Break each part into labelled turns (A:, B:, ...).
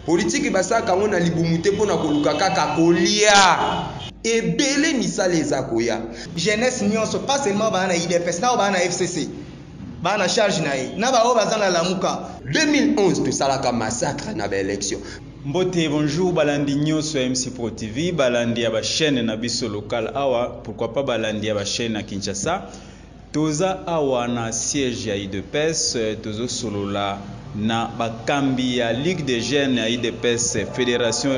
A: Politiki basalaka yango na libumu te pona koluka kaka kolia. Ebele misala eza koya. Jeunesse nionso
B: pas seulement ba na udps na oyo ba na FCC ba na charge na ye na ba oyo baza na lamuka. 2011
A: tosalaka massacre na ba elections. Mbote et bonjour
C: balandi nyoso ya MCPro TV, balandi ya ba chaines na biso locales awa, pourquoi pas balandi ya ba chaines na Kinshasa. Toza awa na siège ya udps tozo solola na ba kambi ya ligue des jeunes ya udps federation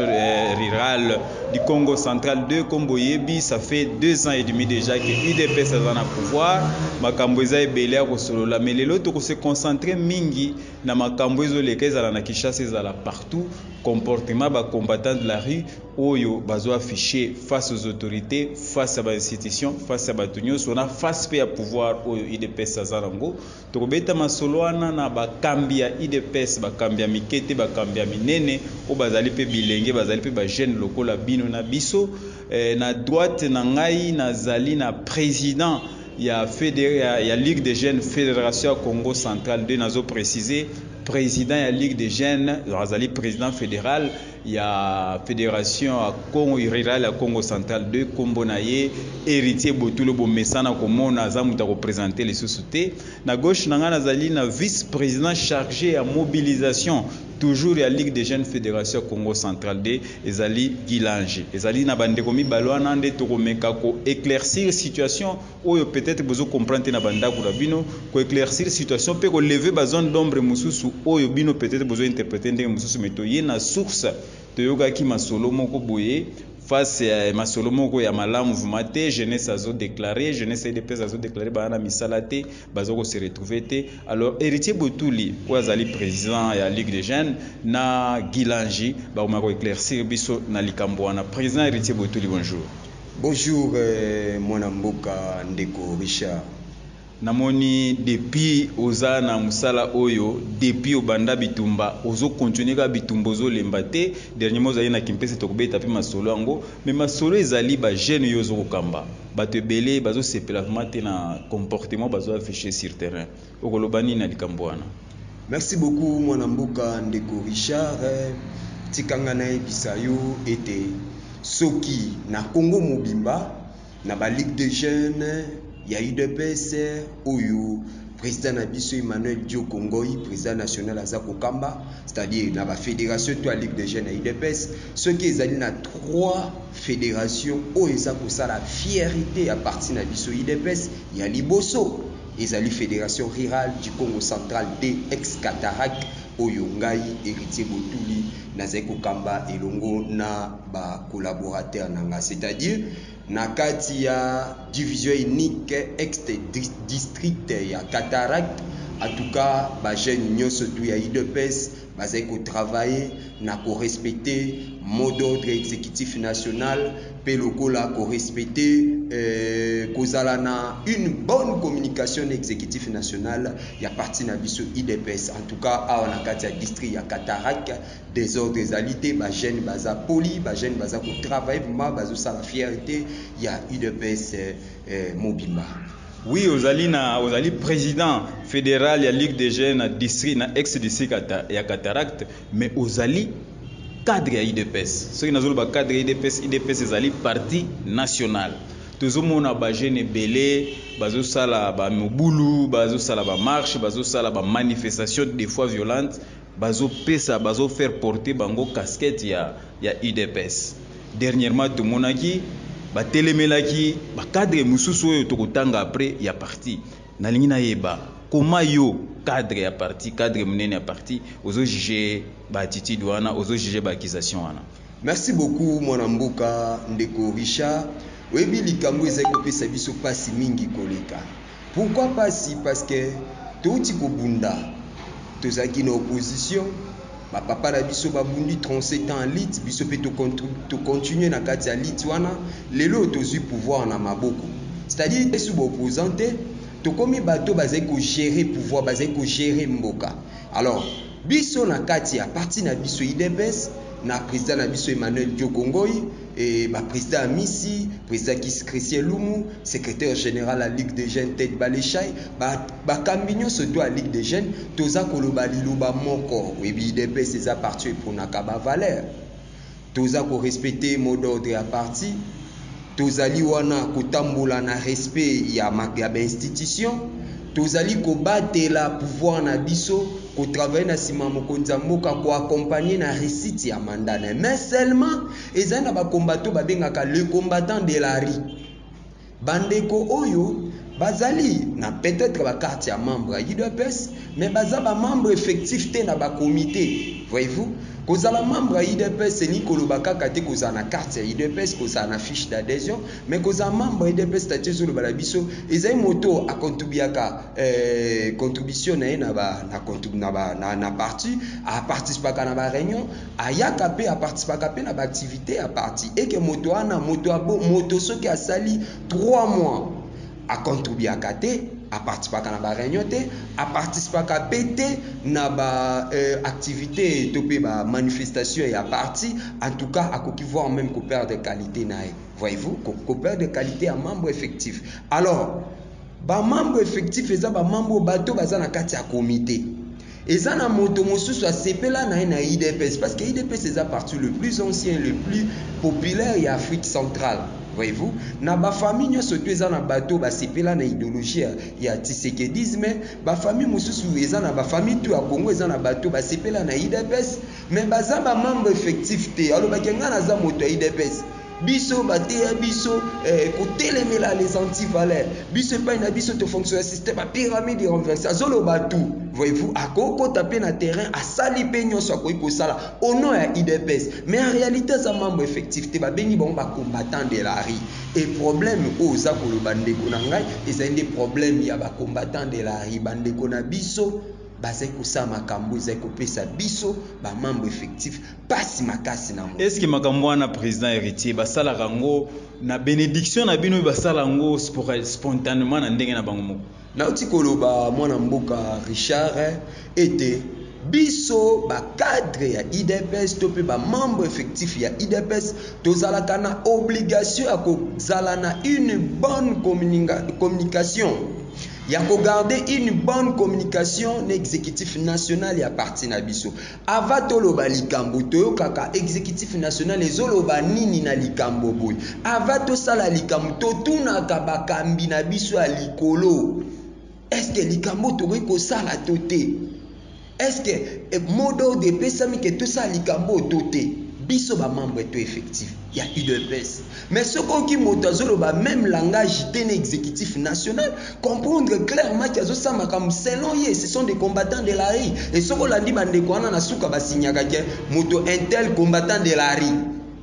C: rurale du Kongo central de kombo oyebi ça fait deux ans et demi dejà que udps aza na pouvoir makambo eza ebele ya kosolola mais lelo toko se concentrer mingi na makambo ezo leka ezala na Kinshasa ezala partout comportement ya ba combattants de la rue oyo bazo afficher face aux autorites, face ya ba institutions, face ya batu nyoso na face pe ya pouvoir oyo udps aza nango. Toko beta masolo wana na ba kambi ya udps, ba kambi ya mike te, ba kambi ya minene oyo bazali pe bilenge, bazali pe ba jeunes lokola bino na biso. Eh, na droite na ngai nazali na president ya fede, ya, ya Ligue des jeunes Federation ya Kongo central de, nazo preciser president ya Ligue des jeunes, azali president federal. ya federation ya Congo rural ya Congo central de kombo na ye Heritier Botulo bomesana komona aza moto ya kopresente lisusu te na gauche na ngai nazali na vice president charge ya mobilisation toujours ya ligue des jeunes federation ya Congo central de ezali Gilange ezali na bandeko mibale wana nde tokomeka ko eclaircir situation oyo peut etre bozo comprendre te na ba ndaku na bino, ko eclaircir situation pe ko lever ba zones d'ombre mususu oyo bino peut etre bozo interpreter ndenge mususu mais toye na source, toyokaki masolo moko boye face ya masolo moko ya malamu vraiment te, jeunesse azo declarer, jeunesse ya udps azo declarer baza na misala te, baza ko se retrouver te, alors Heritier Botuli oyo azali president ya ligue des jeunes na Guy Langi bakomeka ko eclaircir biso na likambo wana, president Heritier Botuli bonjour. Bonjour
A: mwana mboka ndeko Richard. Namoni
C: depuis oza na musala oyo depuis obanda bitumba ozo continuer kaka bitumba ozo lemba te dernierement ozali na kimpese toko beta pe masolo yango mais masolo ezali ba jeune yo ozo kokamba batu ebele bazo sepela vraiment te na comportement bazo afficher sur terrain Okoloba nini na likambo wana? Merci beaucoup
A: mwana mboka ndeko Richard tika nga nayebisa yo ete soki na Congo mobimba na ba ligue de jeune ya udps oyo president na biso Emmanuel Dioko Ngoy president national aza kokamba c'est à dire na ba federation to ya ligue de jeune ya udps soki ezali na 3 federation oyo eza kosala fierite ya parti na biso udps ya liboso Ezali Federation Rurale du Kongo Central, DX Catarac, oyo ngai, Heritier Botuli, nazali kokamba elongo na ba collaborateurs na ngai. C'est-à-dire, na kati ya Division Unique Ex-District ya Cataract, en tout cas, ba jeunes nionso tout ya udps, Bazali ko travailler na ko respecter mot d'ordre executif national mpe lokola ko respecter kozala na une bonne communication na executif national ya parti na biso udps. En tout cas, awa na kati ya district ya Cataraque, desordre ezali te, ba jeunes baza polis, ba jeunes baza ko travailler vraiment, bazo sala fierte ya udps mobimba. Oui
C: ozali na ozali president federal ya Ligue des jeunes na district na ex district ya Cataracte mais ozali cadre ya IDPS. Soki nazoloba cadre ya IDPS, IDPS ezali parti national. Tozomona ba jeunes ebele bazosala ba mobulu, bazosala ba marche, bazosala ba manifestation des fois violente. Bazo pesa bazo faire porter bango casquette ya ya udps dernierement tomonaki ba telemelaki ba cadre mususu oyo toko tanga après ya parti nalingi nayeba comment yo cadre ya parti cadre munene ya parti ozo juge ba attitude wana ozo juge ba accusation wana. Merci beaucoup
A: mwana mboka ndeko Richard oyebi likambu ezali kopesa biso pasi mingi koleka pourquoi pasi parce que towuti kobunda tozalaki na opposition ba papa na biso babundi 37 ans ya lutte biso pe to continuer na kati ya lutte wana lelo oyo tozui pouvoir na maboko c'est à dire biso ba opposants te tokomi bato bazali ko gerer pouvoir bazali ko gerer mboka alors Biso na kati ya parti na biso udps na president na biso Emmanuel Dioko Ngoy et ba president Amisi, president Kisi Christien Lumu, secretaire general ya Ligue des jeunes Ted Baleshai, ba bakambi nionso to ya Ligue des jeunes toza koloba liloba moko, oyebi udps eza parti oyo epronaka ba valeurs. Toza ko respecter mot d'ordre ya parti. Tozali wana kotambola na respect ya ya ba institutions. Tozali kobatela pouvoir na biso, ko travailler na sima ya mokonzi ya mboka, ko accompagner na reussite ya mandat na ye. Mais seulement ezali na ba combattants oyo babengaka le combattant de la rue. Bandeko oyo bazali na peut-etre ba cartes ya membre ya udps mais baza ba membres effectifs te na ba comites. Voyez-vous? Kozala membre ya udps elingi koloba kaka te kozala na carte ya udps, kozala na fiche d'adhesion, mais kozala membre ya udps statut ezoloba na biso ezali moto a contribuaka eh, contribution na ye na ba na, na, na, na parti, a participaka na ba reunion, Ayaka pe a participaka pe na ba activites ya parti et que moto wana moto ya bo moto soki asali trois mois a contribuaka te, a participaka na ba reunions te, a participaka pe te na ba activites to pe ba manifestations ya parti, en tout cas akoki voir meme ko perdre qualite naye. Voyez-vous? Ko ko perdre qualite ya membre effectif. Alors, ba membres effectifs eza ba membres oyo bato baza na kati ya comite. Eza na moto mosusu asepela na ye na udps parce que udps eza parti le plus ancien le plus populaire ya Afrique centrale voyez-vous na ba famille nyonso to eza na bato basepela na ideologie ya, ya tisekedisme ba famille mosusu eza na ba famille to ya Congo eza na bato basepela na udps mais baza ba membre effectif te alobaki ngai naza moto ya udps Biso bateya biso eh, kotelemela les antivaleurs. Biso epai na biso to fonction ya système ya pyramide renversée. Azoloba tout. Voyez-vous, akokota pe na terrain, asali pe nyonso akoki kosala au nom ya IDPS. Mais en réalité aza membre effectif te, babengi bango ba combattants de la rue. Et problème oyo oza koloba ndeko na ngai, ezali nde problème ya ba combattants de la rue, bandeko na biso bazali kosala makambo ezali kopesa biso ba membres effectifs pasi makasi na moto. Esque makambo wana
C: president heritier basalaka ngo na benediction na bino basala ngo spontanement na ndenge na bango moko? Nauti koloba
A: mwana mboka Richard ete biso ba cadre ya udps to pe ba membre effectif ya udps tozalaka na obligation ya kozala na une bonne communication ya kogarde une bonne communication na executif national ya parti na biso Avant toloba likambo toyokaka executif national ezoloba nini na likambo boye. Avant tosala likambo totunaka bakambi na biso ya likolo est ce que likambo tokoki kosala to te. Est ce que mot d'ordre epesami que tosala likambo to te. Biso ba membre to effectif. ya udps mais soki oki moto azoloba meme langage te na executif national comprendre clairement ki azosala makambo selon ye ce sont des combattants de la rue et soki olandi bandeko wana na suka basignaka ke moto intel combattant de la rue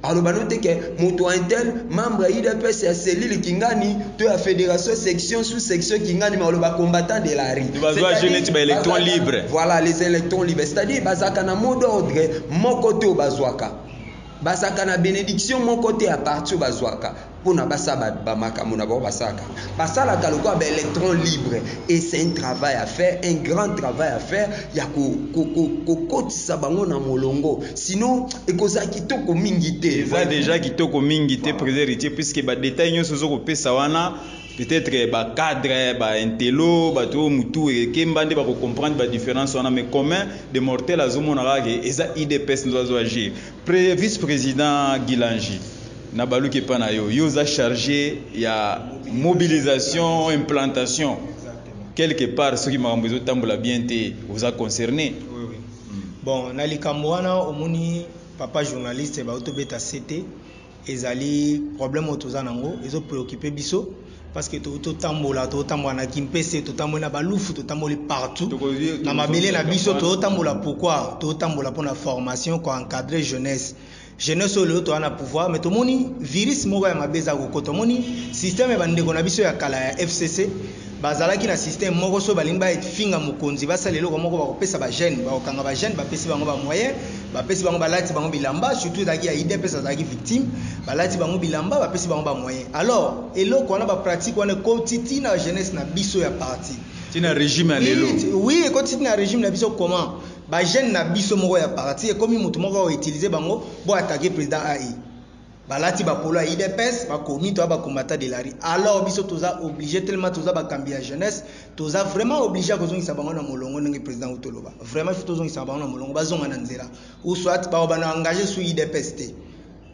A: aloba no te ke moto intel membre ya udps ya cellule kingani to ya fédération section sous section kingani ma aloba combattant de la rue bazwa je neti ba électrons
C: libres voilà les électrons
A: libres c'est-à-dire bazalaka na mot d'ordre moko te oyo bazwaka Bazalaka na benediction moko te a partir oyo bazwaka pona basala ba makambo na bango basalaka. Basalaka lokola ba electrons libres et c'est un travail à faire, un grand travail à faire ya ko kokotisa bango na molongo sinon ekozala kitoko mingi te. Eza dejà kitoko
C: mingi te President Heritier puisque ba details nionso ozo kopesa wana, peut-être ba cadre ba intello bato oyo mutu ekemba nde bako comprendre ba difference wana mais commun de mortel azomona kaka ke eza udps nde azo agir Pre, vice president gilangi na baluki epa na yo yo oza charge ya mobilisation implantation quelque part soki makambo ezotambola bien te oza concerne
B: bon na likambo wana omoni papa journaliste bautobeta sete Ezali problème oyo toza nango ezo preoccuper biso parce que to to tambola to tambola na Kimpese to tambola na Balufu to tamboli partout na mabele na biso to tambola pourquoi to tambola pona formation ko encadrer jeunesse jeunesse oyo lelo toza na pouvoir mais tomoni virus moko ya mabe eza kokota omoni système ya bandeko na biso ya kala ya fcc Bazalaki na système moko soki balingi ba finga mokonzi basala eloko moko bako pesa ba jeunes bako kanga ba jeunes ba pesi bango ba moyen ba pesi bango ba lati bango bilamba surtout ezalaki ya udps azalaki victime ba lati bango bilamba ba pesi bango ba moyen alors eloko wana ba pratique wana ekoti ti na jeunesse na biso ya parti ti na regime ya lelo oui
C: ekoti
B: ti na regime na biso
C: comment
B: ba jeunes na biso moko ya parti ekomi mutu moko ako utiliser bango bo attaquer president AI. Balati ba polo ya udps bakomi toza ba combattant de la rue alors biso toza oblige tellement toza bakambi ya jeunesse toza vraiment oblige ya kozongisa bango na molongo ndenge president uto loba vraiment faut tozongisa bango na molongo bazonga na nzela ou soit ba bana engage sous udps te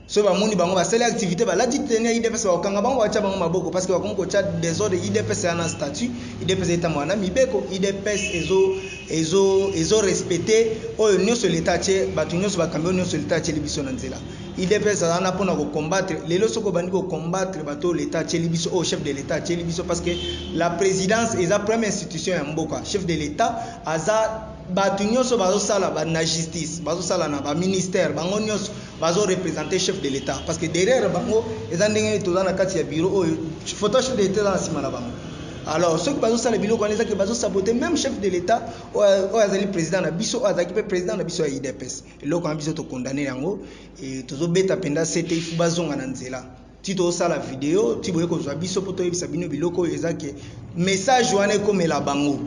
B: so bamoni bango basali activité balati teni ya idps bakokanga bango batya bango maboko parce que bakomi kotya desordre idps ya na statut idps etambola na mibeko idps ezo ezo ezo respecte oyo nyonso leta atye bato nyonso bakambi oyo nyonso leta atyeli biso na nzela Udps aza wana pona ko combattre lelo soki obandi ko combattre bato l'etat atieli biso oyo oh, chef de l'etat atieli biso parce que la présidence eza première institution ya mboka chef de l'etat aza bato nyonso bazosala na justice bazosala na baministère bango nyonso bazorepresente chef de l'état parce que derrière bango eza ndenge nini toza na kati ya biro oyo photo chef de l'état eza na nsima na bango alors soki bazosala biloko wana ezaki bazosabote même chef de l'état oyo azali président na biso oyo azalaki mpe président na biso ya idps eloko wana biso tokondane yango e, tozobeta mpenza sete ifu bazonga na nzela ti tosala video ti boye kozwa biso mpo toyebisa bino biloko oyo eza ke message wana ekomela bango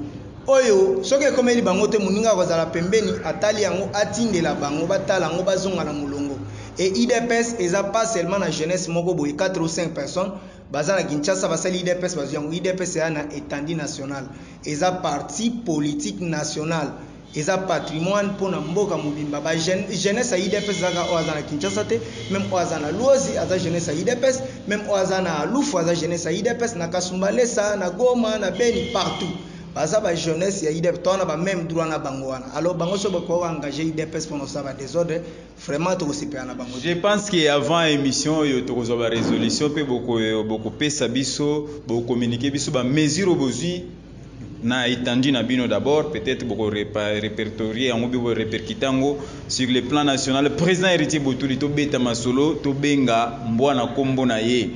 B: oyo soki ekomeli bango te moninga akozala pembeni atali yango atindela bango batala yango bazonga na molongo e idps eza pas seulement na jeunesse moko boye 4 ou 5 personnes baza na kinshasa basali idps bazwi yango idps eya na etandi national eza parti politique national Eza patrimoine pona mboka mobimba ba jeunes jeunesse ya udps eza kaka oyo aza na Kinshasa te meme oyo aza na luozi aza jeunesse ya udps meme oyo aza na lufu aza jeunesse ya udps na kasumbalesa na goma na beni partout baza ba jeunesse ya udps toza na ba meme droit na bango wana alors bango soki bakoki ko engager udps pona kosala ba desordre vraiment tokosepela na bango te. Je pense que avant
C: emission oyo tokozwa ba resolutions pe boko bokopesa biso bo communiquer biso ba mesures oyo bozwi na etendu na bino d'abord peut-être boko repertorier yango boko repercuter yango sur le plan national président héritier botuli tobeta masolo tobenga mbwa na kombo na ye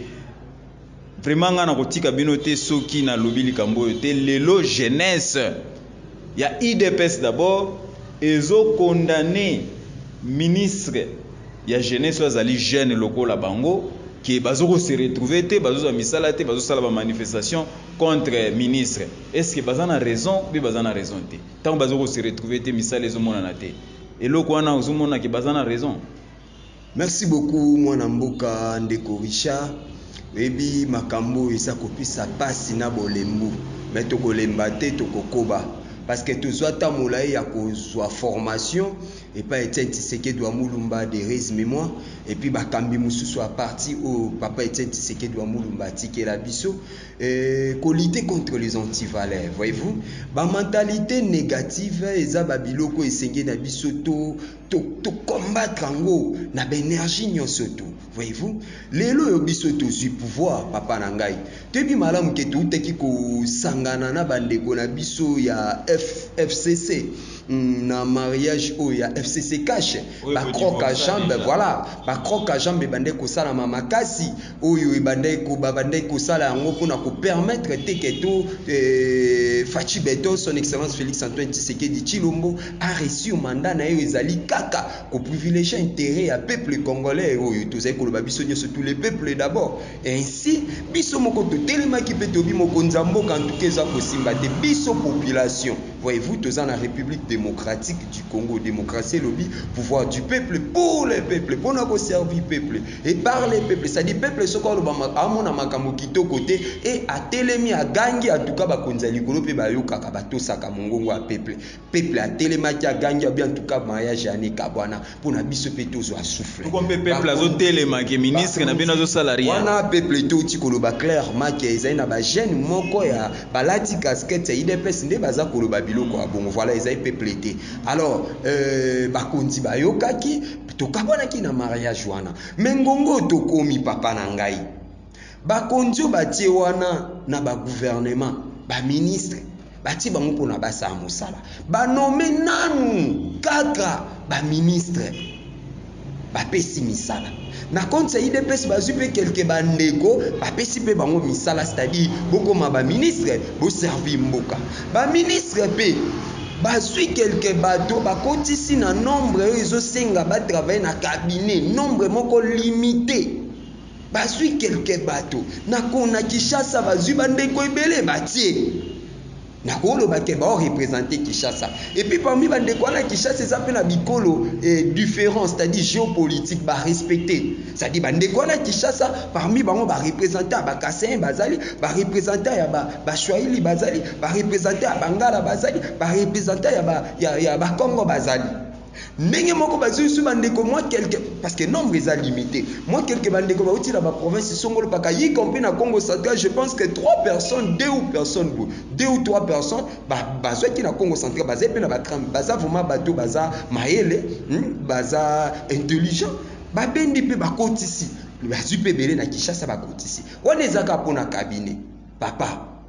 C: vraiment ngai nakotika bino te soki nalobi likambo oyo te lelo jeunesse ya idps d'abord ezokondane ministre ya jeunesse oyo azali jeune lokola bango ke bazokose retrouve te bazozwa misala te bazosala bamanifestation contre ministre est ce que baza na raison ou bien baza na raison te tango bazo ko se retrouver te misala ezo monana te eloko wana ozo mona ke baza na raison Merci
A: beaucoup mwana mboka ndeko Richard oyebi makambo oyo eza kopesa pasi na bolembu me tokolemba te tokokoba parce que tozwa ta molai ya kozwa formation epai Etienne Tshisekedi wa Mulumba Therese Mimwa epi bakambi mosusu ya parti oyo papa Etienne Tshisekedi wa Mulumba atikela biso Euh, ko lutter contre les antivaleurs voyez-vous ba mentalité négative eza ba biloko esenge na biso to to, to combattre yango na ba énergie nyonso to voyez-vous lelo oyo biso tozwi pouvoir papa na ngai toyebi malamu ke toutaki kosangana na bandeko na biso ya F, fcc hmm, na mariage oyo ya fcc cash bacroque à jambe voilà bacroque à jambe ebande kosalama makasi oyo ebandaki ko babandaki kosala yango mpo na ko permettre te que to euh, Fatshi Beton son excellence Félix Antoine Tshisekedi Tshilombo a réussir mandat na ye ezali kaka ko privilégier intérêt ya peuple congolais oyo tozali koloba biso nyonso tous les peuples d'abord ainsi biso moko totelemaki mpe tobi mokonzi ya mboka en tout cas eza kosimba te biso population voyez-vous toza na République démocratique du Congo démocratie elobi pouvoir du peuple pour le peuple mpo na ko servir peuple Et par les peuples, ça dit peuple soko aloba amona makambo kitoko te et atelemi agangi atuka bakonzi ya likolo pe bayokaka batosaka mongongo ya peuple. Peuple atelemaki agangi abi en tout cas mariage ya ne kabwana pona biso pe tozwa souffle. Soko mpe peuple azo
C: telema ke ministre na bino azo sala rien. Wana peuple to ti
A: koloba clairement ke ezali na ba jeunes moko ya balati casquette ya udps nde baza koloba biloko ya bongo. Voilà ezali peuple te. Alors euh bakonzi bayokaki. Tokabwanaki na mariage wana. Mais ngonga oyo tokomi papa na ngai. Bakonzi oyo batie wana na ba gouvernement, ba ministre, batie bango pona basala mosala. Ba nomme nanu kaka ba ministre. Bapesi misala. Na compte ya IDPS bazui pe quelque ba ndeko, bapesi pe bango misala c'est-à-dire bokoma ba ministre, bo servir mboka. Ba ministre pe Bazui quelques bato bakotisi na nombre oyo ezo senga ba travailler na cabinet, nombre moko limite. Bazui quelques bato na kona Kinshasa bazui ba ndeko ebele batie. Nako loba ke bao representer Kinshasa. Et puis parmi ba ndeko wana Kinshasa eza pe na bikolo eh, different, c'est-à-dire geopolitique ba respecter. C'est-à-dire ba ndeko wana Kinshasa parmi bango ba representants ya ba Kasaïens bazali, ba representants ya ba ba Swahili bazali, ba representants ya bangala bazali ba representants ya ba ya, ya ba Congo bazali ndenge moko bazwi biso bandeko mwa quelque parce que nombre eza limité mwa quelque bandeko bauti na baprovince songolo mpaka y compris na congo central je pense que trois personnes deux ou personnes boye deux ou trois personnes bazwaki na congo central bazali mpe na batrame baza vraiment bato baza mayele hmm, baza intelligent babendi mpe bakotisi bazwi mpe ebele na kinshasa bakotisi wana ezaka mpo na cabinet papa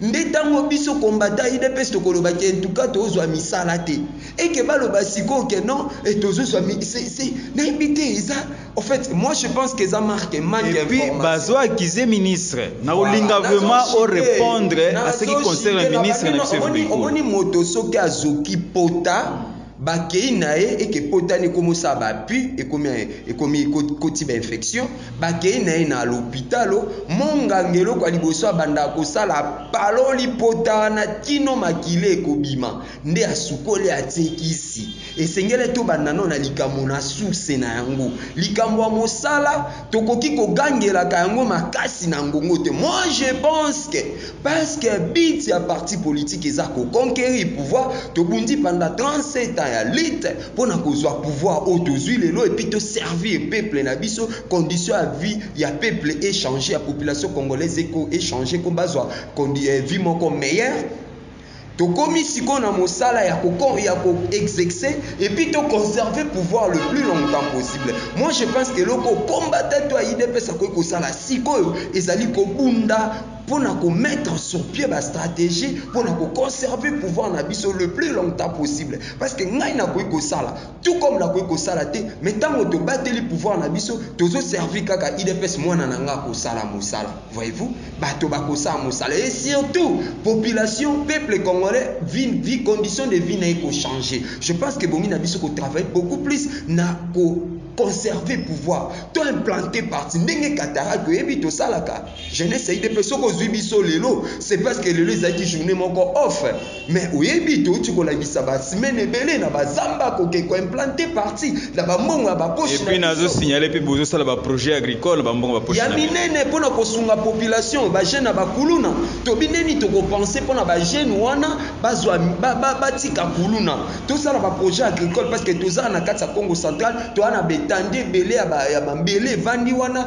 A: Nde tango biso combattants udps tokoloba ke entuka tozwa misala te et ke baloba sikoyo ke non et tozozwa mi se se nayebi te eza en fait moi je pense ke eza marque manque Et puis information. bazo accuser
C: ministre na kolinga Voilà, vraiment nazo o citer, repondre à ce qui nazo concerne citer, ministre na nabangi biso ya omoni- Fimbu Ikulu. omoni moto soki
A: azoki pota Bakei naye eke potani ekomo sala ba pu ekomi ekomi koti ba infection bakei naye na lopitalo monganga eloko ya liboso abandaka kosala apaloli potana kino makila ekobima nde asukoli atie kisi esengele tobanda nao na likambo na source na yango likambo ya mosala tokoki kogangelaka yango makasi na ngongo te moi je pense que Parce que but ya parti politique eza ko conquerir pouvoir, tobundi pendant 37 ans ya lutte pona kozua pouvoir oyo tozui lelo et puis to servir peuple na biso, condition ya vie ya peuple e changer, ya population congolaise e changer po bazua vie moko meilleure. Tokomi sikoyo na mosala ya ko ya ko exexe et puis to conserver pouvoir le plus longtemps possible. Moi je pense que eloko combattant to ya udps akoki kosala sikoyo ezali kobunda mpo na ko mettre sur pied ba strategie mpo na ko conserver pouvoir na biso le plus longtemps possible parce que ngai nakoki kosala tout comme nakoki kosala te mais ntango tobateli pouvoir na biso tozo servir kaka udps mwana na ngai akosala mosala Voyez-vous, bato bakosala mosala et surtout population peuple congolais vie, vie condition de vie na ye ko changer. Je pense que bongi na biso ko travailler beaucoup plus na ko conserver pouvoir to implanter parti ndenge katara toyebi tosalaka jeunesse ya idps soki ozwi biso lelo c'est parce que lelo ezalaki journée moko off Mais oyebi touti kolakisa ba semaine ebele na ba zamba koke ko implante parti na ba mbongo ya ba poche na biso. Epuis signaler pe
C: bozo sala ba projet agricole ba mbongo ba poche na biso. Ya minene pona kosunga
A: population ba jeune na ba kuluna tobi ndeni toko pense pona ba jeune wana bazwa ba tika kuluna tosala ba projet agricole parce que toza na kati ya Kongo central toza na ba etendue ebele ya ba mbele evandi wana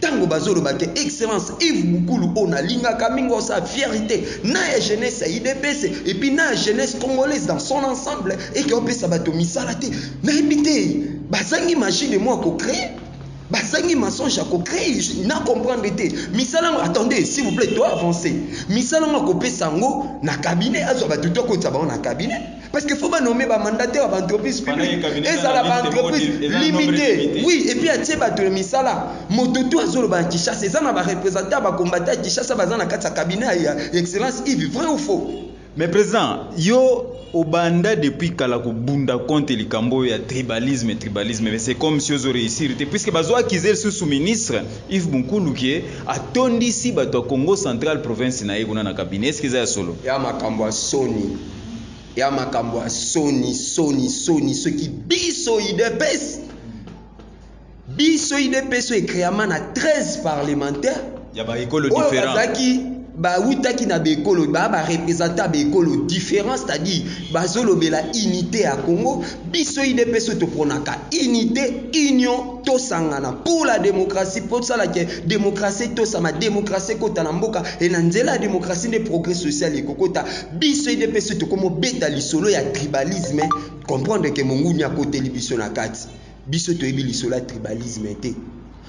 A: Tango bazo loba ke excellence Yves Bukulu oyo na lingaka mingi oza fierite na ya jeunesse ya udps et puis na ya jeunesse congolaise dans son ensemble et ke opesa bato misala te na yebi te bazangi magie de moi ko cree bazangi mensonge ya ko cree na comprendre te misala yango attendez s'il vous plait to avancer misala yango ako pesa yango na cabinet azwa bato to akotisa bango na cabinet Parce que faut ba nommer ba mandataires ba entreprises publiques. Ezala ba entreprises limitées. Oui, et puis à tieba de misala. Moto tout azolo ba Kinshasa, ezana ba représentants ba combattants Kinshasa ba zana katsa cabinet ya excellence Yves, vrai ou faux? Mais président,
C: yo obanda depuis kala kobunda contre likambo oyo ya tribalisme tribalisme mais c'est comme si ozo réussir te puisque bazo accuser lisusu ministre Yves Bunkulu ke atondisi bato ya Congo central province na ye kuna na cabinet est-ce que eza ya solo ya makambo ya
A: soni ya makambo ya soni soni soni soki biso udps biso udps oyo
C: ecreama na
A: 13 parlementaire
C: ya
A: baekolo différent
C: bazalaki
A: bawutaki na baekolo baa barepresentant ya baekolo différent c'est-à-dire bazolobela unité ya congo biso udps oyo topronaka unité union tosangana pour la démocratie mpo tosala ke démocratie tosama démocratie ekota na mboka e na nzela ya démocratie nde progrès social ekokota Biso udps tokomo beta lisolo ya tribalisme comprendre que monguni akoteli biso na kati biso toyebi lisolo ya tribalisme te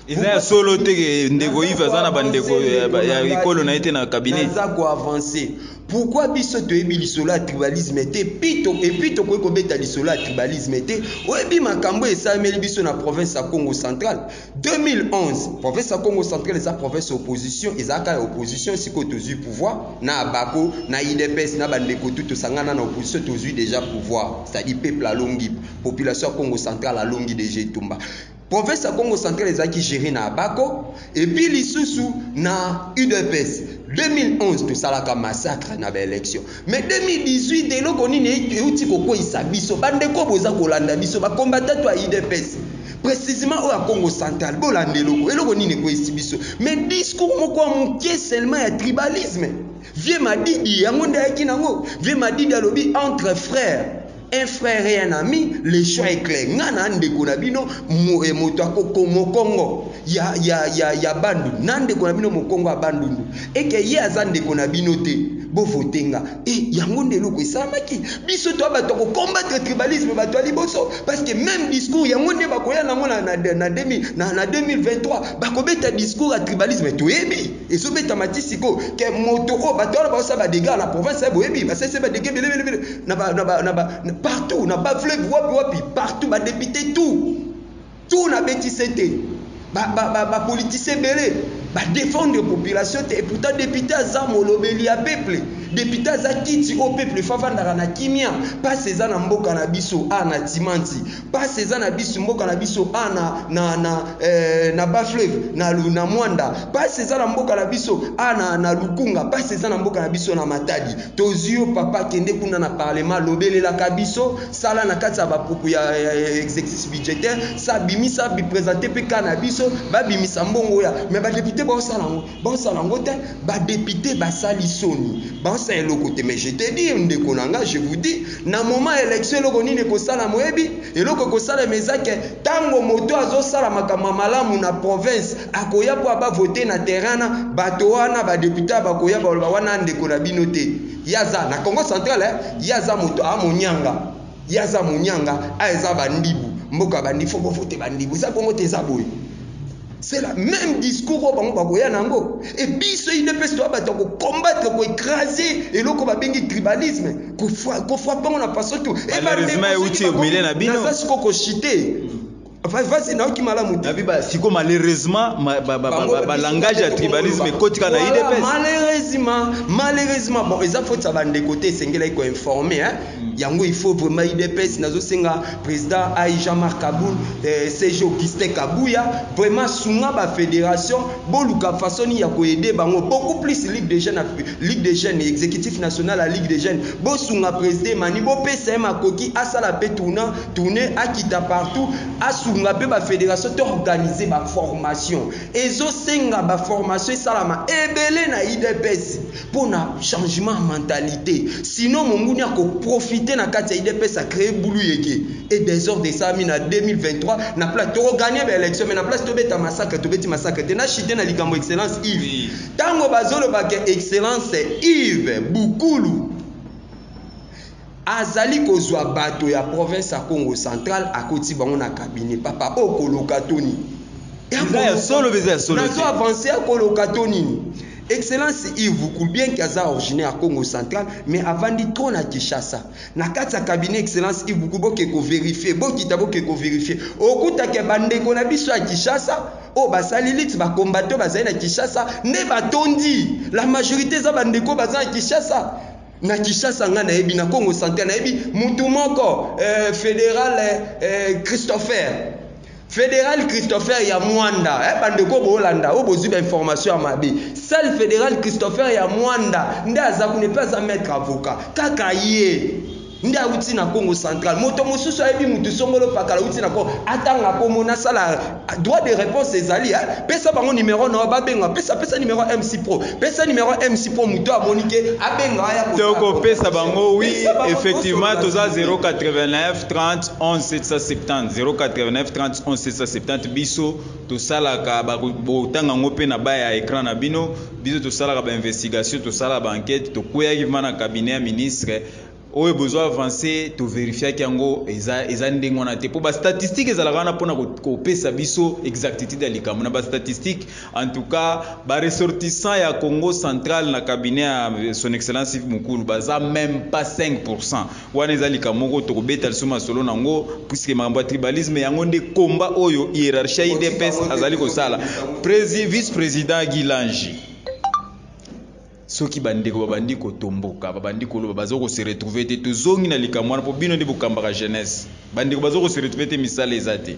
A: eza ya solo
C: te ke ndeko ive aza na bandeko ya ekolo na ye te na cabinet aza koavance
A: pourkui biso toyebi lisolo ya tribalisme te pito epuis tokoki kobeta lisolo ya tribalisme te oyebi makambo esalemeli biso na province ya congo central 2011 province ya congo central eza province ya opposition ezalaka ya opposition sikoyo tozwi pouvoir na abako na idps na bandeko tu tosangana na opposition tozwi deja pouvoir c'est-à-dire peuple alongi population ya congo central alongi deja etumba province ya congo central ezalaki gere na abako epuis lisusu na udps 2011 tosalaka massacre na baélection Mais 2018 eloko nini ewuti kokweyisa biso ba ndeko boza kolanda biso ba combattant to ya udps precisement oyo ya Congo central bolanda eloko eloko nini ekweyisi biso mais discours moko ya muke seulement ya tribalisme vieux madidi yango nde ayaki nango vieux madidi alobi entre frères Un frère et un ami, le choix est clair. Nga na ndeko na bino eh, moto akoko mokongo ya ya ya ya bandu na ndeko na bino mokongo ya bandundu eke ye aza ndeko na bino te bovote nga e yango nde eloko esalamaki biso to bato ya kokombatre tribalisme bato ya liboso parce que même discours yango nde bakoya nango na, na, na, na, na 2023 bakobeta discours ya tribalisme toyebi Ezo betama ti sikoyo ke moto oyo bato wana bazo sala ba degats na province eh, boyebi ba sese ba degats bele bele bele na ba na ba na ba partout na ba fleuve wapi wapi partout ba depute tout tout na beti sete ba ba ba, ba politiciens bele ba defendre population te et pourtant depute aza molobeli ya peuple depute aza kiti oyo peuple fafandaka na kimia pasi eza na mboka na biso a na timanti Pasi eza na bisu mboka na biso a na na na eh, na bas fleuve na na Mwanda pasi eza na mboka na biso a na na Lukunga pasi eza na mboka na biso na Matadi tozio papa kende kuna na parlement lobelelaka biso sala na kati ya bapuku ya exercice budgétaire sa bimisa bi présenter pe ka na biso babimisa mbongo ya mais ba député baosala yango Bosala yango te ba depute basali soni bosala elokote mais je te dire ndeko na nga je vous dis na moment election eloko nini ekosala moyebi eloko ekosala mezake tango moto azosala makambo malamu na province akoya po aba vote na terrain na bato wana ba depute bakoya baloba wana ndeko na bino te yaza na Congo central eh? yaza moto amonyanga yaza monyanga a eza bandibu mboka bandi fo bovote bandibu eza bongo te eza boye C'est la meme discours oyo bango bakoya na yango et biso udps toya bato ya kocombattre koecrase eloko babengi tribalisme kofrape yango na façon tout
C: naza siko kochite
A: vasi nayoki malamu te siko malheureusement
C: balangage ya tribalisme ekotika na udps malheureusement malheureusement
A: bon eza foti ya bandeko te esengelaki koinforme Yango il faut vraiment udps nazo senga president ai Jean Marc Kabund eh, CG Augustin Kabuya vraiment sunga ba federation boluka façon ya ko aider bango beaucoup plus ligue des jeunes ligue des jeunes exécutif national à ligue des jeunes bosunga president mani bopesa ye makoki asala pe tourna tourner akita partout asunga pe ba federation to organiser ba formation ezo senga ba formation esalama ebele na udps pona changement ya mentalite sinon monguni ako profite na kati ya udps a cree bulu yeke et desordre esalami na 2023 na place toko gagne ba election mais na place tobeta massacre tobeti massacre te na chute na likambo excellence Yves tango bazoloba ke excellence Yves Bukulu Azali kozua bato ya province ya Kongo central akoti bango na cabinet papa oyo koloka to nini? Eza ya
C: solo eza ya solo te. Nazo avancer ya koloka
A: to nini? Excellence Yves Vukul bien que aza originaire ya Kongo central mais avandi trop na Kinshasa. Na kati ya cabinet Excellence Yves Vukul boke ko verifier, bokita boke ko verifier. Okuta ke ba ndeko na biso ya Kinshasa oyo basali lutte ba combattant bazali na Kinshasa nde batondi. La majorite eza ba ndeko baza na Kinshasa. Na kishasa nga nayebi na Congo central nayebi mutu moko eh, federal eh, eh Christopher federal Christopher ya Mwanda eh, bandeko bolanda oyo bozwi ba information ya mabe sale federal Christopher ya Mwanda nde aza kuna mpe aza maître avocat kaka ye nde awuti na Congo central moto mosusu ayebi mutu songolo pakala awuti na Congo atanga komo nasala Droit de reponse ezali eh? Pesa bango numero na yo babenga. Pesa pesa numero ya MC Pro. Pesa numero ya MC Pro moto amoni ke abenga aya ko. Toko pesa bango
C: oui effectivement toza 089 30 11 770 089 30 11 770 biso tosalaka botanga ngo pe na baya écran na bino biso tosalaka ba investigation tosala ba enquête tokweyaki vana cabinet ya ministre Oyo bozo avance to verifiaki yango eza eza ndenge wana te po ba statistique ezalaka wana pona kopesa ko biso exactitude ya likambo na ba statistique en tout cas ba ressortissant ya Congo central na cabinet ya euh, son excellence Yves Mukulu baza même pas 5% wana eza likambo moko tokobeta lisusu masolo nango puisque makambo ya tribalisme yango nde combat oyo hierarchie ya IDPS azali kosala Presi, vice président Guy Lange Soki ba ndeko ba bandi ko tomboka, ba bandi ko loba, ba zo ko se retrouver te. To zongi na likambo wana po bino nde bo kambaka jeunesse. Ba ndeko ba zo ko se retrouver te, misala eza te.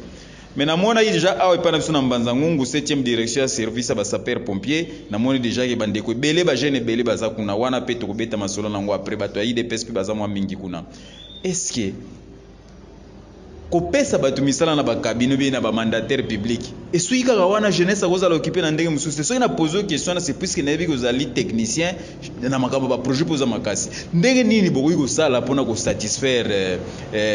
C: Mais na monaki dejà awa epai na biso na Mbanza Ngungu, septième direction ya service ya ba sapeurs pompiers, na moni dejà que ba ndeko ebele, ba jeunes ebele ba za kuna. Wana pe toko beta masolo na yango après. Batu ya udps pe ba za mua mingi kuna. Est ce que. Kopesa bato misala na ba cabinets oubien na ba mandataires publics esuki kaka wana? Jeunesse akozala occuper na ndenge mosusu te. Soki na poser yo question wana c'est puisque nayebi que ozali technicien na makambo ya ba projets mpe oza makasi. Ndenge nini bokoki kosala mpo na ko satisfaire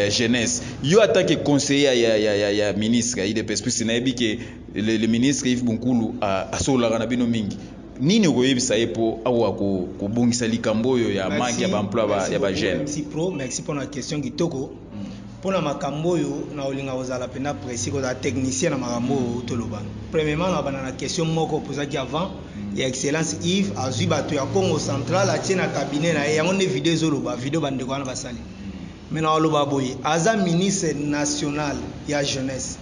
C: jeunesse? Yo en tant que conseiller ya, ya, ya, ya ministre ya udps, puisque nayebi que le, le ministre Yves Bunkulu asololaka na bino mingi, Nini okoyebisa ye po akoka ko kobongisa likambo oyo ya manque ya ba emploi ya ba jeunes? Merci pro, merci pona
B: question kitoko. Hmm. Pona makambo oyo nakolinga kozala pena precis, kozala technicien na makambo oyo owuti oloba. Premierement na banda na question moko opozaki avant hmm. ya excellence Yves azui bato ya Congo central atie na cabinet na ye, yango nde video ezoloba, video ba ndeko wana basali. Hmm. Mais nakoloba boye, aza ministre national ya jeunesse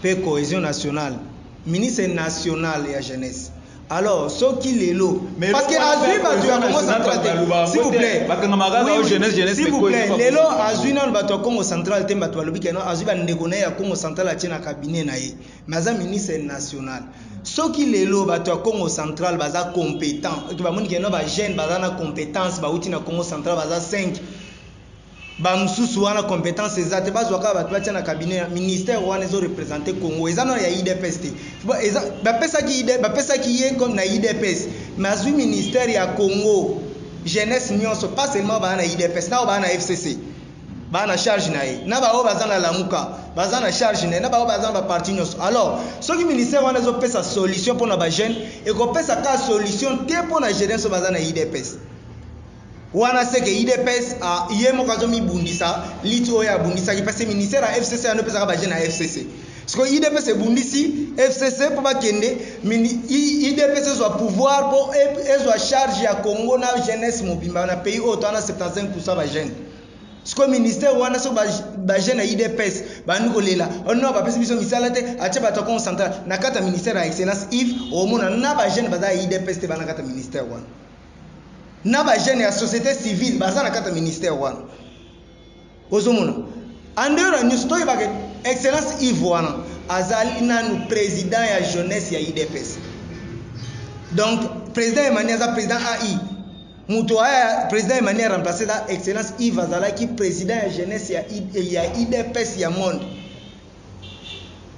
B: pe cohesion nationale. Ministre national ya jeunesse alors soki lelo parce que azui batu ya Congo central te s'il vous plait s'il vous plait lelo azui nanu batu ya Congo central te batu balobi keno azui ba ndeko na ye ya Congo central atie na cabinet na ye mais aza ministre national soki lelo batu ya Congo central baza competent bamoni keno ba jeunes baza na competence bauti na Congo central baza 5 Ba mususu wana competence eza te bazwa kaka batu batia na cabinet ministère wana ezo representer Congo eza nanu ya udps te eza ba pesaki udps ba pesaki ye comme na udps mais azwi ministère ya Congo jeunesse nionso pas seulement ba na udps nao ba na FCC ba na charge na ye na ba oyo baza na lamuka baza na charge na ye na ba oyo baza na ba parti nionso alors soki ministère wana ezo pesa solution pona ba jeunes eko pesa ka solution te pona jeunesse baza na udps Wana seke udps a ye moko azo mi bundisa lutte oyo abundisaki parce que ministère ya FCC yande epesaka ba jeunes ya FCC sikoyo udps ebundisi FCC po ba kende mini udps ezwa pouvoir po ezwa charge ya Congo na jeunesse mobimba na pays oyo toza na 75% ba jeunes sikoyo ministère wana soki ba, ba jeunes ya udps bandi kolela oh non bapesi biso misala te atie bato ya Congo central na kati ya ministère ya excellence Yves omona na ba jeunes baza ya udps te bana kati ya ministère wana na ba jeune ya société civile baza na kata ministère wana ozomona en dehors ya nyonso toyeba ke excellence Yves wana azali nanu président ya jeunesse ya IDPS donc président Emmanuel aza président AI moto aya président Emmanuel remplacé eza excellence Yves azalaki président ya jeunesse ya, ya IDPS ya monde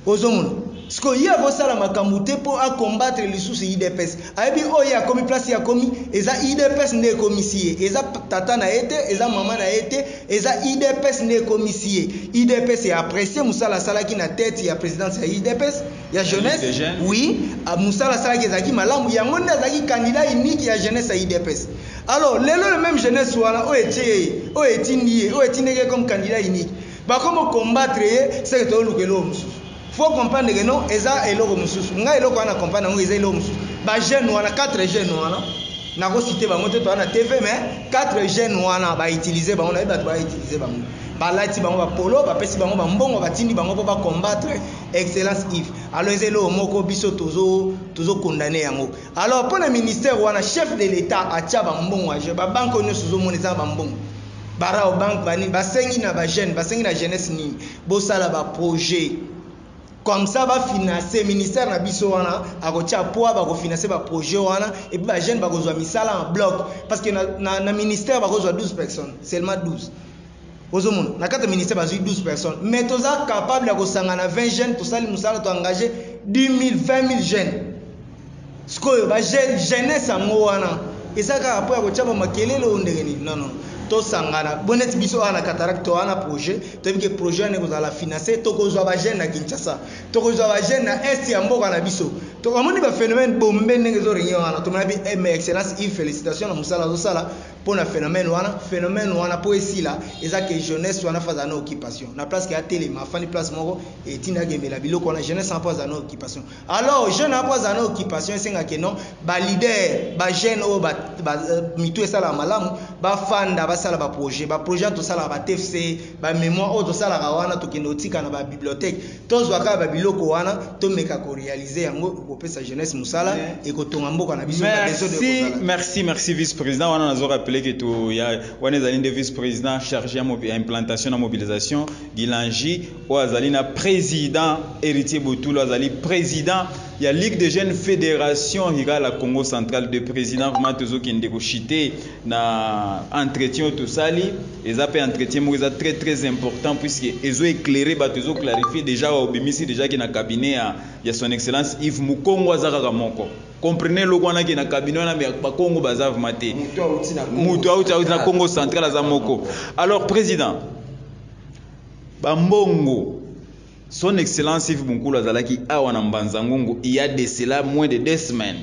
B: ozomona siko ye akosala makambo te po a combattre lisusu udps ayebi oyo ye akomi place ye akomi eza udps nde ekomisi ye eza tata na ye te eza mama na ye te eza udps nde ekomisi ye udps e apprecie musala asalaki na tete ya presidence ya udps ya jeunesse oui musala asalaki ezalaki malamu yango nde azalaki candidat unique ya jeunesse ya udps alors lelo le meme jeunesse wana oyo etie ye oyo etindi ye oyo etindeki ye comme candidat unique Bakomo combattre ye seke tozo luka eloko mususu faut comprendre que non eza eloko mususu ngai eloko wana na comprendre yango eza eloko mususu ba jeune wana 4 jeune wana nako cite bango te toza na TV mais 4 jeune wana ba utilise bango nayebi batu ba utilise bango ba lati bango ba polo ba pesi bango ba mbongo ba tindi bango po ba combattre excellence Yves alors eza eloko moko biso tozo tozo condamner yango alors pona ministère wana chef de l'etat atia ba mbongo ya jeu ba banque oyo nionso ozo mona eza ba mbongo Ba Raobank ba nini basengi na ba jeunes, basengi na jeunesse nini? Bosala ba projets comme ça ba financer ministère na biso wana akotia poids bako financer ba projets wana et puis ba jeunes bakozwa misala en bloc parce que na, na, na ministère bakozwa 12 personnes seulement 12 ozomona na kati ya ministère bazwi 12 personnes mais toza capable ya kosangana 20 jeunes tosali mosala to engage 10 000 20 000 jeunes Sikoyo ba jeunes jeunesse yango wana eza kaka po ya kotia ba makelele ou ndenge nini? Non non tosangana bo neti biso awa na cataracte toa na projet toyebi ke projet wana ekozala finance tokozua ba jeunes na Kinshasa tokozua ba jeunes na est ya mboka na biso to omoni ba phenomène bombe ndenge ezo regne wana tomona bi eh, mais excellence Yves felicitation na musala azosala pona phenomène wana phenomène wana po esila eza ke jeunesse wana faza na occupation na place ke atelema afandi place moko etinda akembela biloko wana jeunesse wana po aza na occupation Alors jeune apo azala na occupation esenga ke non ba leader ba jeune oyo ba, ba euh, mitu esala malamu ba fanda ba sala ba projet ba projet to sala ba TFC ba memoire oyo to sala ka wana to kende otika na ba bibliothèque to zwa ka ba biloko wana to meka ko realiser yango ko pesa jeunesse musala et ko tonga mboka na biso ba besoin de ko sala merci
C: merci vice president wana na zo rappeler que to ya wana ezali nde vice president chargé ya implantation na mobilisation Gilangi Oyo azali na president Heritier Botula azali president ya Ligue de jeunes federation rurale ya Congo central de president vraiment tozo kende ko chute na entretien oyo tosali eza pe entretien moko eza très très important puisque ezo eclairer bato ezo clarifier dejà awa obimisi dejà ke na cabinet ya, ya son excellence Yves Mukongo aza kaka moko comprenez eloko wana ke na cabinet wana mais ba Kongo baza vraiment te mutu auti na Congo central aza moko alors president Ba mbongo. Son Excellence Yves Bunkulu azalaki awa na Mbanza Ngungu il y a de cela moins de deux semaines.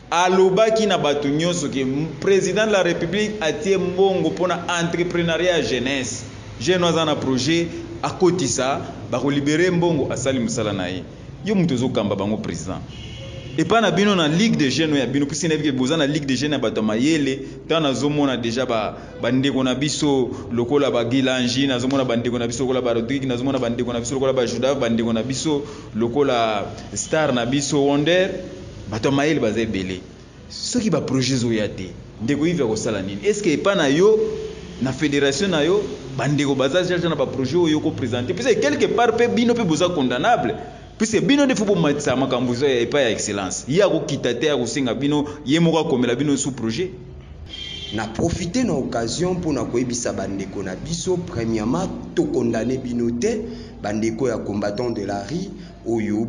C: Alobaki na bato nyonso que President de la Republique atie mbongo pona entreprenariat ya jeunesse. Jeune aza na projet akotisa bako libere mbongo asali musala na ye. Yo moto ozo kamba bango President. Epa na bino na Ligue de jeunes oyo ya bino puisque nayebi que boza na Ligue de jeunes ya bato ya mayele tango nazo mona dejà ba bandeko na biso lokola bagilangi nazomona bandeko na biso lokola barodrigue nazomona bandeko na biso lokola bajudave bandeko na biso lokola star na biso wonder bato ya mayele baza ebele soki baprojet ezoya te ndeko ive akosala nini estce epa na yo na fédération na yo bandeko baza jaja na baprojet oyo okopresente puise quelque part mpe bino mpe boza condamnable Puisque bino nde faut bomatisa makambo eza ya epai ya excellence. Ye akokita te akosenga bino ye moko akomela bino sous projet. Na
A: profiter na occasion mpo na koyebisa ba ndeko na biso, premièrement to condamner bino te, ba ndeko ya combattants de la rue oyo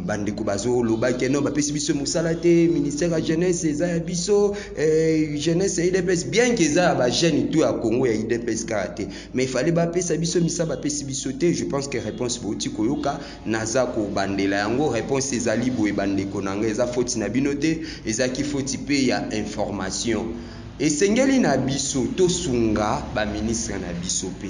A: ba ndeko bazo loba ke non bapesi biso mosala te, ministère ya jeunesse eza ya biso, eh, jeunesse ya udps bien ke eza ya ba jeunes tout ya Congo ya udps kaka te. Mais fallait ba pesa biso misa ba pesi biso te je pense que reponse bouti koyoka naza ko bandela yango reponse ezali boye ba ndeko nanga eza foti na bino te ezaki foti pe ya information esengeli na biso to sunga ba ministre na biso pe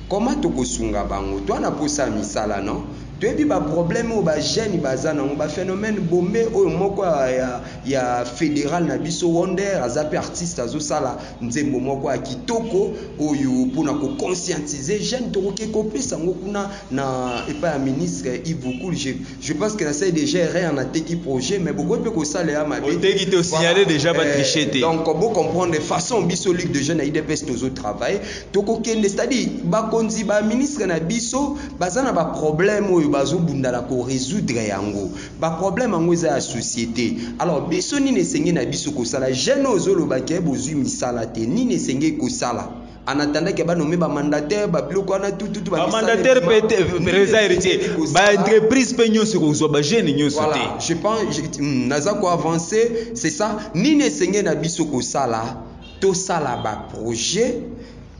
A: comment toko sunga bango toi na posa misala non toyebi ba problème oyo ba jeune baza nango ba phenomène bombe oyo moko ya ya federal na biso wonder aza pe artiste azo sala nzembo moko ya kitoko oyo mpona ko conscientiser jeune tokoki kopesa yango kuna na epai ya ministre Ivukul je, je pense que nasali déjà erreur nateki projet mais bokoki mpe kosala ya mabe oteki te osignale
C: déjà ba triche eh, te donc bo comprendre
A: façon biso ligue de jeune ya idps tozo travailler tokokende c'est à dire bakonzi ba ministre na biso baza na ba problème oyo bazobunda na ko résoudre yango Ba problème yango eza ya societe alors biso nini esengeli na biso kosala jeune oyo ozo loba ke bozui misala te nini esengeli kosala en attendant ke ba nomme ba mandataire ba biloko wana tout tout ba mandataire pe
C: te reza héritier ba entreprise pe nionso kozua ba jeune nionso te voilà je pense hmm,
A: naza ko avancer c'est ça nini esengeli na biso kosala tosala ba projet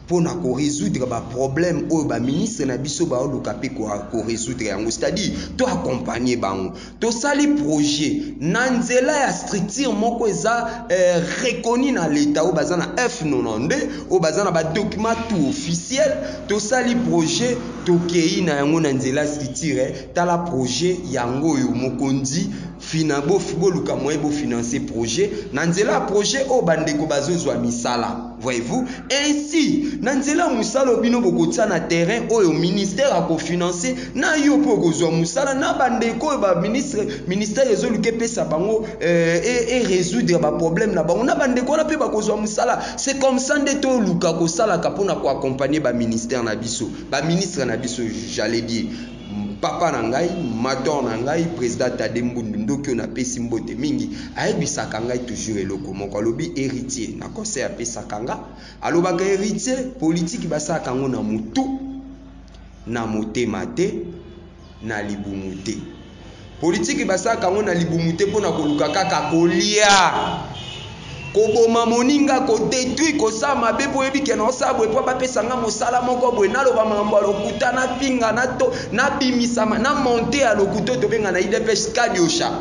A: mpo na ko resoudre ba problèmes oyo ba ministres na biso bao luka mpe ko resoudre yango c'est à dire to accompagner bango to sali projet na nzela ya structure moko eza eh, reconnue na l'etat oyo baza na F92 oyo baza na ba documents tout officiel to sali projet to keyi na yango na nzela structure eh, tala projet yango oyo mokonzi Fina bo boluka moyen bo financer projet na nzela ya projet oyo ba ndeko bazo zua misala voyez vous ainsi na nzela ya musala oyo bino bokotia na terrain oyo ministère ako financer na yo pe okozua musala na ba ndeko oyo ba ministre ministère ezo luka epesa bango euh, et, et resoudre ba problème na bango na ba ndeko wana pe bakozua musala c'est comme ça nde to luka kosalaka pona ko accompagner ba ministère na biso ba ministre na biso j'allais dire Papa na ngai, mator na ngai, president Tade Mbundu, ndoki oyo napesi mbote mingi, ayebisaka ngai toujours eloko moko, alobi Heritier, na conseil apesaka nga, alobaka Heritier, politique basalaka yango na mutu, na motema te, na libumu te. Politiki basalaka yango na libumu te mpo na koluka kaka kolia. Koboma moninga, ko detruire, kosala mabe mpo oyebi ke naosala boye mpo abapesa nga mosala moko boye, naloba makambo ya lokuta, nafinga, nato, nabimisa, na monter ya lokuta oyo tobenga na udps kadiosha.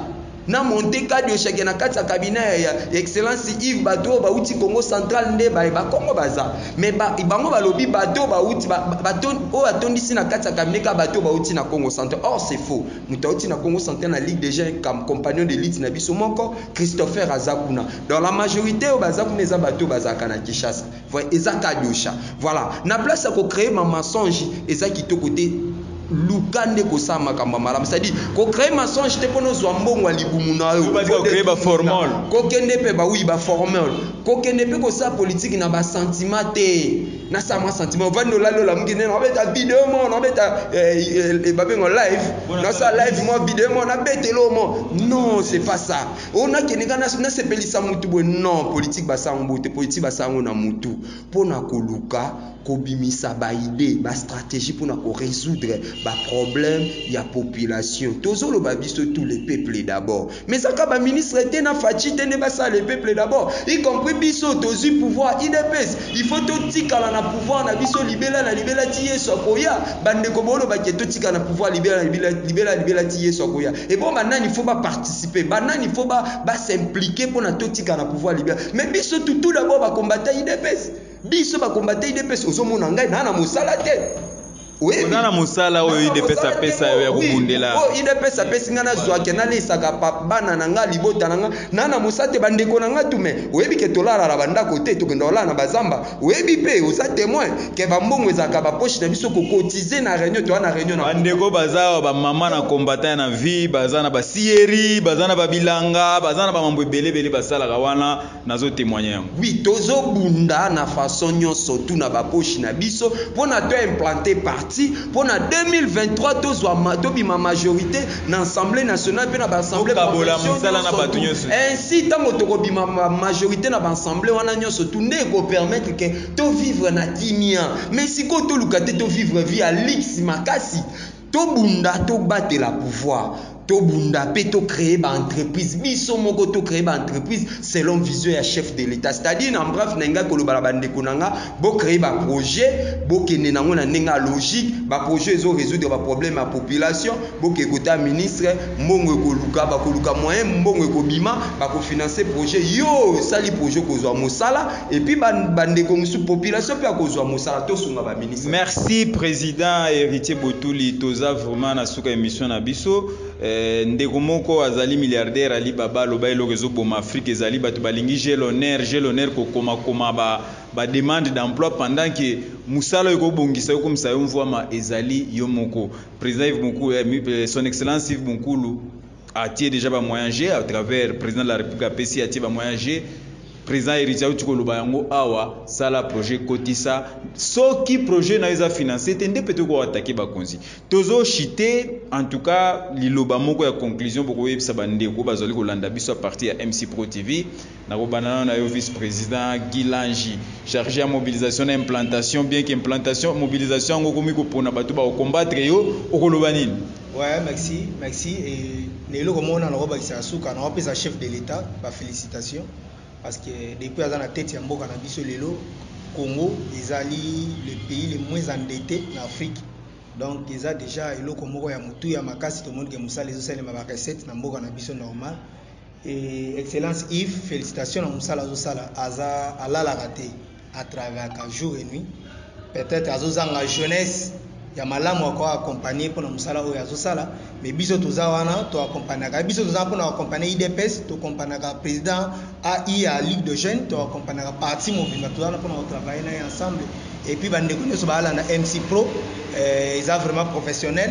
A: Na monter kadiosha ke na kati ya cabinet ya Excellence Yves bato oyo bawuti Kongo central nde baye. Bakongo baza. Mais ba, bango balobi bato bauti ba, ba, oyo atondisi na kati ya cabinet ka bato bauti na Congo Centre. Or c'est faux. Moto auti na Congo Centre na Ligue des Jeunes comme compagnon de lutte na biso moko, Christopher aza kuna. Donc la majorité oyo baza kuna eza bato bazalaka na Kinshasa. Voilà, eza kadosha. Voilà, na place ya ko créer ma mensonge eza kitoko te. Luka nde kosala makambo ya malamu, c'est-à-dire ko cree mensonge te pona ozwa mbongo ya libumu na yo,
C: kokende pe ba
A: oui ba formol, kokende pe kosala politique na ba sentiment te, na sala mwa sentiment, ovandi olali olamuki nde na beta video moko, na beta eh, eh, babengo live, na sala live mwa video moko, na betelo mo, non c'est pas ça, o na kende nga na sepelisa mutu boye, non politique ba sango boye te, politique ba sango na mutu pona koluka kobimisa ba idees, ba strategies pona ko resoudre ba problèmes ya population. Tozo loba biso tout le peuple d'abord. Mais eza kaka ba ministres te na Fatshi te nde ba sala le peuple d'abord. Y compris biso tozui pouvoir udps il faut to tikala na pouvoir na biso libela na libela ti Yesu akoya. Ba ndeko bo loba ke to tikala na pouvoir libela na libela na libela ti Yesu akoya. Et bon ba nani faut ba participer? Ba nani faut ba s'impliquer pona to tikala na pouvoir libela? Mais biso tout d'abord ba combattants udps. Biso ba combattant udps ozo mona ngai na na mosala te. Oyebi? Oza na
C: mosala oyo udps apesa yo ya kobundela. Oyo udps apesi
A: ngai nazwa ke nalesaka bana na ngai libota na ngai na na mosala te bandeko na ngai tume oyebi ke tolala na bandako te tokenda kolala na bazamba oyebi mpe oza temoin ke bambongo ezalaka bapoche na biso kokotize na reunion toya na reunion na bandeko baza awa
C: bamama na combattant ya na vie baza na basierie baza na babilanga baza na bamambo ebele ebele basalaka wana Nazo temoigner yango. Oui tozo
A: bunda na façon nionso tout na ba poche na biso pona to implante parti pona 2023 tozua tobima majorite na assemblee nationale pe na ba assemblee provinciaux nionso tout ainsi tango toko bima majorite na ba assemblee wana nionso tout nde eko permettre que to vivre na kimia mais sikoyo toluka te to vivre vie ya luxe makasi Tobunda to batela pouvoir. Tobunda pe to cree ba entreprises biso moko to cree ba entreprises selon vision ya chef de l'etat c'est à dire en bref na lingai koloba na ba ndeko na nga bo cree ba projets bo kende na ngo na ndenge ya logique ba projets ezo resoudre ba problèmes ya population bo ke kota ministre mbongo ekoluka bakoluka moyen mbongo ekobima bako financer projet yo sali projet okozua mosala Et puis ba ndeko musu population pe akozwa musala to sunga ba ministre. Merci president
C: Heritier Botuli toza vraiment na suka emission na biso. Eh, ndeko moko azali milliardaire Ali Baba loba eloko ezo boma Afrique ezali bato balingi j'ai l'honneur j'ai l'honneur ko koma koma ba ba demande d'emploi pendant que musala oyo ekobongisa okomisa yo mvuama ezali yo moko président Yves Mukulu eh, son excellence Yves Mukulu atie dejà ba moyen je à travers president de la republique apesi atie ba moyen je president héritier auti koloba yango awa sala projet kotisa soki projet na eza financé te nde peut ko attaquer bakonzi tozo chite en tout cas liloba moko ya conclusion bokoyebisa bandeko bazali kolanda biso à partir ya MC Pro TV Nakobanda nanu nayo vice president Guy Langi charge ya mobilisation na implantation bien que implantation mobilisation yango okomi kopona batu bako combattre yo okoloba nini? Ouais merci
B: merci et na eloko moko nanu nako bakisa ya suka nako pesa chef de l'etat ba felicitations parce que depuis aza na tete ya mboka na biso lelo Congo ezali le pays le moins endette na Afrique donc eza dejà eloko moko ya motuya makasi tomoni que musala ezo salema ba recette na mboka na biso normal Eh, excellence Yves, felicitation na musala azosala, aza alalaka te, atravaillaka jour et nuit. Peut-être azozanga jeunesse ya malamu ako accompagner pona musala oyo azosala, mais biso toza wana to accompagnaka biso toza pona accompagner IDPS, to accompagnaka président AI ya Ligue de Jeunes, to accompagnaka parti mobimba toza wana pona ko travailler na ye ensemble. Et puis ba ndeko nyoso ba alanda MC Pro, eh, eza vraiment professionnel.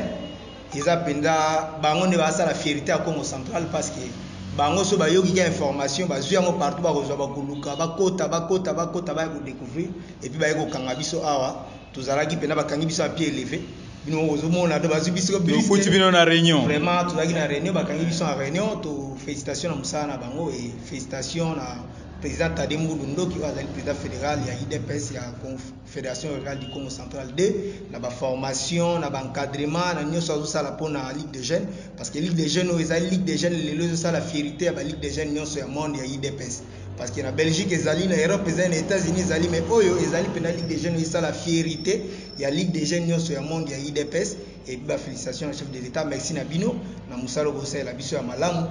B: Eza penza bango nde ba sala fierite ya Kongo central pasque bango soki bayoki ka information bazui yango partout bako zua bako luka ba kota ba kota ba kota baya ko decouvrir et puis baye ko kanga biso awa tozalaki penza ba kangi biso na pied eleve bino moko bozo mona donc bazui biso bus tokuti bino na reunion
C: vraiment tozalaki na reunion
B: ba kangi biso na reunion to felicitation na musala na bango et felicitation na president Tade Mbulu Ndoki oyo azali president federal ya udps ya Conf Federation Rurale du Congo Central 2 na ba formation na ba encadrement na nyoso azo sala pona Ligue des Jeunes parce que Ligue des Jeunes oyo ezali Ligue des Jeunes lelo ezo sala fierite ya ba Ligue des Jeunes nyoso ya monde ya IDPS parce que na Belgique ezali na Europe ezali na Etats-Unis ezali mais oyo ezali pena Ligue des Jeunes esala fierite ya Ligue des Jeunes nyoso ya monde ya IDPS et ba félicitations na chef de l'État merci na bino na musala bosalela biso ya malamu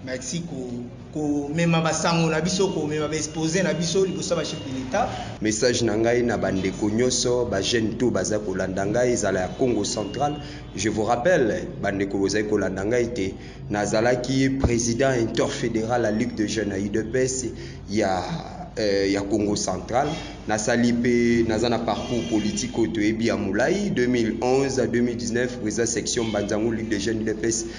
B: merci ko Komema ba sango na biso, komema ba exposer na biso liboso ya ba chefs de l'Etat. Message na ngai
A: na ba ndeko nioso, ba jeunes tout baza kolanda ngai ezala ya Kongo central, je vous rappelle ba ndeko bozali kolanda ngai te, nazalaki president interfederal ya Ligue de jeunes ya udps ya ya Kongo central, nasali mpe naza na parcours politique oyo toyebi ya mulayi, 2011 à 2019 president section Mbanza Ngungu Ligue de jeunes udps.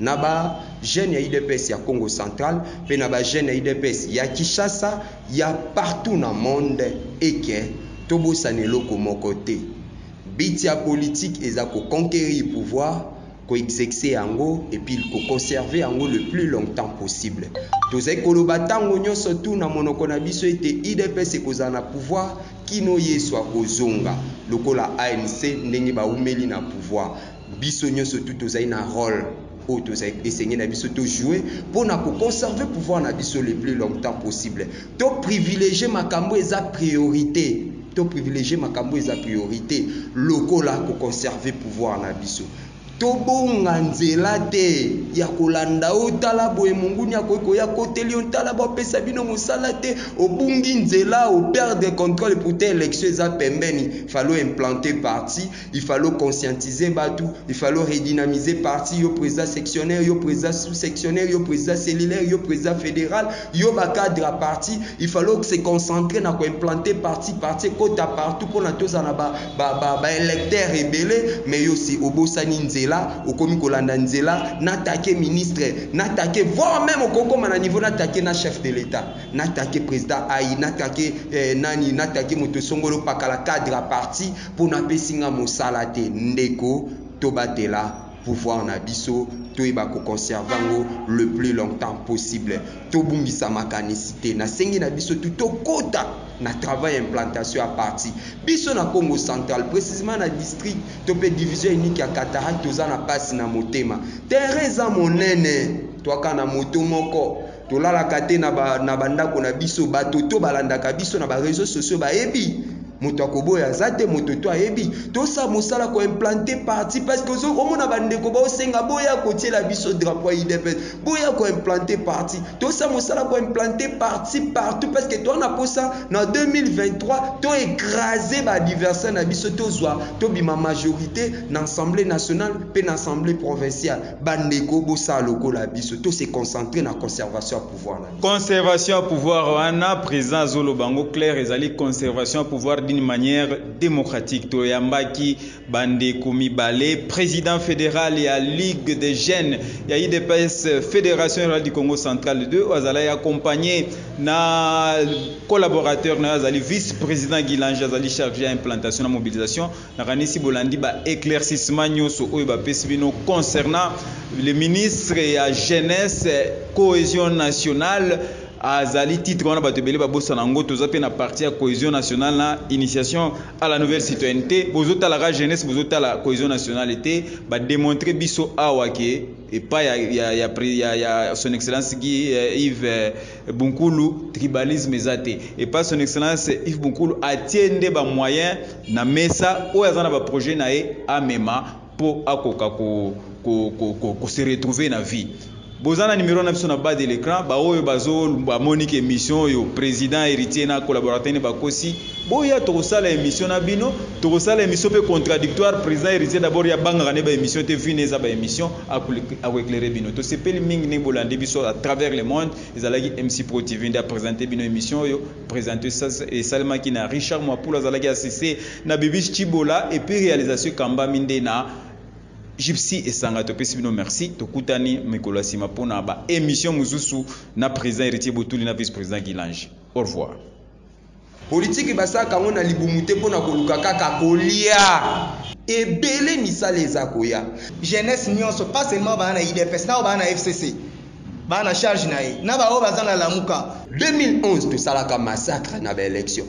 A: na ba jeunes ya udps ya Kongo central mpe na ba jeunes ya udps ya Kinshasa, ya partout na monde et que tobosana eloko moko te, but ya politique eza ko conquerir pouvoir, ko exexer yango et puis ko conserver yango le plus longtemps possible. Tozali koloba tango nionso tout na monoko na biso ete udps ekozala na pouvoir kino Yesu akozonga, lokola ANC ndenge bawumeli na pouvoir. Biso nioso tout tozali na role oyo tozali esengeli na biso to jouer mpo na ko conserver pouvoir na biso le plus longtemps possible. To privilegier makambo eza priorite, to privilegier makambo eza priorite lokola ko conserver pouvoir na biso. Tobonga nzela te ya kolanda yo tala boye monguni akoki koya koteli yo tala bapesa bino mosala te obungi nzela o perdre controle pourtant élection eza pembeni falo implante parti Il fallait o conscientiser batu, il fallait o redynamiser parti, yo president sectionnaire, yo president sous sectionnaire, yo president cellulaire, yo president federal, yo ba cadre ya parti, il fallait o se concentrer na ko implanter parti, parti ekota partout pona tozala na ba, ba, ba, ba electeurs ebele, mais yo si obosani nzela, okomi kolanda nzela n'attaquer ministre, n'attaquer, voir meme okoki koma na niveau n'attaquer na chef de l'Etat, n'attaquer president Ayi, n'attaquer eh, nani, n'attaquer moto songolo pakala cadre ya parti, pona apesi nga mosala te ndeko tobatela pouvoir na biso toyeba ko conserver yango le plus longtemps possible tobungisa makanisi te nasengi na biso tout tokota na travail ya implantation ya parti biso na Kongo central precisement na district to pe division unique ya Cataract toza na pasi na motema terrain eza monene toaka na moto moko Tolalaka te na ba, na bandako na biso. Bato to balandaka biso na ba reseaux sociaux bayebi. Moto akoboya aza te, moto to ayebi. Tosa mosala ko implante parti parce que ozo omona bandeko baosenga boya kotiela biso drapeau ya UDPS, boya ko implante parti. Tosa mosala ko implante parti partout parce que toa na posa na 2023 to ecraser ba adversaires na biso tozwa tobima majorite na assemblee nationale pe na assemblee provinciale. Bandeko bosala lokola biso to se concentrer na conservation ya pouvoir na biso. Conservation ya pouvoir
C: wana president azoloba yango claire ezali conservation ya pouvoir d'une manière democratique. Toyambaki bandeko mibale president federal ya Ligue des jeunes ya UDPS Federation Rurale du Congo Central 2 oyo azalaki accompagné na collaborateur na ye azali vice-president Guy Lange azali charge ya implantation na mobilisation Nakanisi bolandi ba eclaircissements nyoso oyo bapesi bino concernant le ministre ya jeunesse cohesion nationale azali titre wana bato ebele babosana yango toza pe na parti ya cohesion nationale na initiation à la nouvelle citoyennete bozotala ka jeunesse bozotala cohesion nationale te ba demontre biso awa ke epai ya, ya, ya, ya, ya son excellence Guy, euh, Yves Bunkulu tribalisme eza te epa son excellence Yves Bunkulu atie nde ba moyens na mesa oyo aza na ba projet na ye amema po akoka ko, ko, ko, ko, ko se retrouver na vie boza na numero na biso na bas de l'écran baoyo bazo bamoni ke émission oyo président héritier na collaborateur ne bakosi boya tokosala émission na bino tokosala émission pe contradictoire président héritier d'abord ya bangaka ne ba émission te vine eza ba émission Ako eclairer bino. Tosepeli mingi ndenge bolandi biso à travers le monde. Ezalaki MC Pro TV nde a presenter bino emission oyo. Presenter esalemaki na Richard Mwapulu azalaki assiste na Bibiche Tshibola et puis realisation ekambami nde na Gypsy Esanga. Topesi bino merci. Tokutani mikolo ya sima pona ba emissions mosusu na President Heritier Botuli na Vice-President Guilange. Au revoir.
A: Politiki basalaka yango na libumu te mpo na koluka kaka kolia. Ebele misala eza koya. Jeunesse nionso
B: pas seulement ba na udps na oyo ba na FCC ba na charge
A: na ye
B: na ba
A: oyo baza
B: na
A: lamuka. 2011 tosalaka massacre
B: na ba
A: elections.